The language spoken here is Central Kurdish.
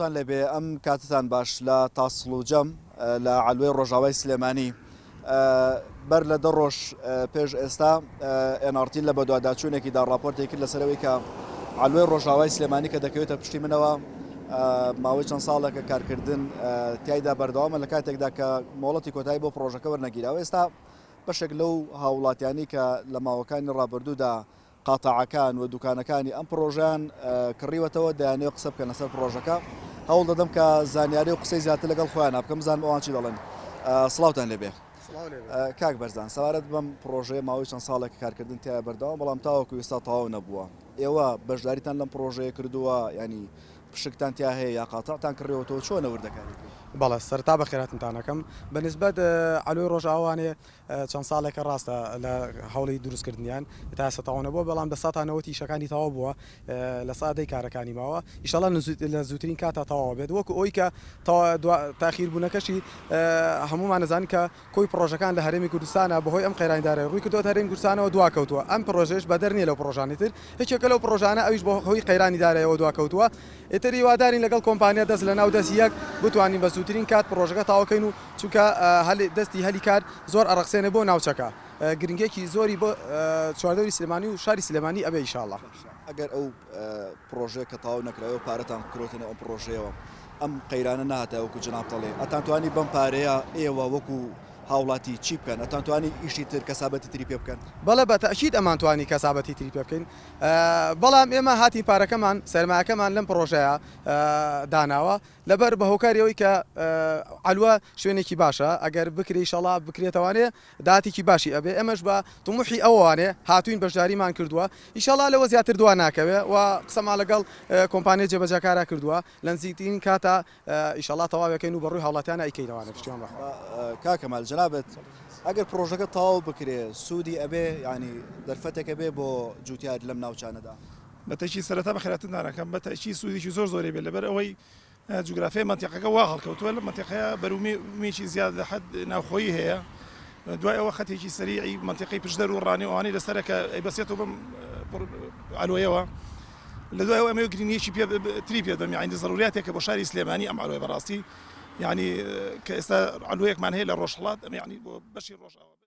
تان لێبێ ئەم کاتتان باش لە تاسڵوجەم لە عەلوەی ڕۆژاوای سلێمانی بەر لە دە ڕۆژ پێش ئێستا ئێنارتی لە بەدواداچوونێکی دا ڕاپۆرتی کرد لەسەرەوەی کە عەلوەی ڕۆژاوای سلێمانی کە دەکەوێتە پشتی منەوە ماوەی چەند ساڵێکە کارکردن تایدا بەردەوامە لە کاتێکدا کە مۆڵەتی کۆتایی بۆ پرۆژەکە وەرنەگیراوە ئێستا بەشێک لەو هاوڵاتیانی کە لە ماوەکانی ڕابردوودا قاتاعەکان و دوکانەکانی ئەم پڕۆژەیان کڕیوەتەوە دەیانەوێت قسە بکەن لەسەر پڕۆژەکە هەوڵ دەدەم کە زانیاری و قسەی زیاتر لەگەڵ خۆیان بکەم بزانم ئەوان چی دەڵێن سڵاوتان لێبێ کاک بەرزان سەوارەت بەم پڕۆژەیە ماوەی چەند ساڵێک کارکردن تیا بەردەوام بەڵام تاوەکو ئێستا تەواو نەبووە ئێوە بەشداریتان لەم پڕۆژەیە کردووە ینی پشکتان تیا هەیە یا قاتەتان کڕێەوەەوە چۆنە وردەکاری بەڵێ سەرتا بە خێراتنتانەکەم بەنسبەت ئەلوی ڕۆژاوانێ چەند ساڵێکە ڕاستە لە هەوڵی دروستکردنیان تا ئێستا تەواو نەبووە بەڵام لە ساتان نەوەتی ئیشەکانی تەواو بووە لە سا دەی کارەکانی ماوە ئیشەڵا لە زووترین کاتا تەواو بێت وەکو ئەوی کە تاخیر بوونەکەشی هەموومان ئەزانین کە کۆی پڕۆژەکان لە هەرێمی کوردستانە بەهۆی ئەم قەیرانی دارای ڕووی کردووە هەرێمی کوردستانەوە دوا کەوتووە ئەم پڕۆژەیەش بەدەر نییە لەو پڕۆژانەی تر یەکێکە لەو پڕۆژانە ئەویش بەهۆی قەیرانی دارایەوە دوا کەوتووە ئیتر هیوادارین لەگەڵ کۆمپانیا دەست لەناو دەست یەک بتوانین بە زووترین کات پڕۆژەکە تەواو کەین و چونکە دەستی هەلی کار زۆر ئەڕەخسێنێ بۆ ناوچەکە گرنگیەکی زۆری بۆ چواردەوری سلێمانی و شاری سلێمانی ئەبێ ئیشاڵا. ئەگەر ئەو پڕۆژەیە کە تەواو نەکرایە و پارەتان بکرۆتە نێو ئەم پڕۆژەیەوە ئەم قەیرانە نەهاتایە وەکو جەنابتەڵێ ئەتان توانی بەم پارەیە ئێوە وەکو هاوڵاتی چی بکەن ئەتان توانی ئیشی تر کەسابەتی تری پێ بکەن؟ بەڵێ بە تەئکید ئەمان توانی کەسابەتی تری پێ بکەین. بەڵام ئێمە هاتین پارەکەمان سەرمایەکەمان لەم پڕۆژەیە داناوە لەبەر بە هۆکاری ئەوی کە عەلوە شوێنێکی باشە ئەگەر بکری شەڵا بکرێتەوانێ داتێکی باشی ئەبێ ئەمەش بە تموحی ئەوانێ هاتوین بەشداریمان کردووە ئیشەڵا لەوە زیاتر دوا ناکەوێ و قسەما لەگەڵ کۆمپانیای جێبەجەکارا کردووە لە نزیکترین کاتا ئیشەڵا تەواو ئەکەین و بەڕووی هاوڵاتیانا ئەیکەینەوانە پشتیوان بەخوا. کاک کەمال جەنابت ئەگەر پڕۆژەکە تەواو بکرێ سوودی ئەبێ یانی دەرفەتێک ئەبێ بۆ جووتیار لەم ناوچانەدا؟ بەتەکید سەرەتا بەخێراتن دانەکەم بەتەکید سوودێکی زۆر زۆری بێت لەبەر ئەوەی جوگرافیای مەنتیقەکە وا هەڵکەوتووە لەم مەنتیقەیە بەروومێکی زیاد لە حەد ناوخۆیی هەیە دوای ئەوە خەتێکی سەریعی مەنتیقەی پشدەر و ڕانێ و ئەوانەی لەسەرە کە ئەیبەسێتەوە بەم عەلۆیەوە لە دوای ئەوە ئەمەوێ گرینگیەکی پێ تری پێ دەم یعنی زەروریاتێکە بۆ شاری سلێمانی ئەم عەلوەیە بەڕاستی یعنی کە ئێستا عەلوەیەکمان هەیە لە ڕۆژهەڵات ئەمە یعنی بۆ بەشی ڕۆژاوا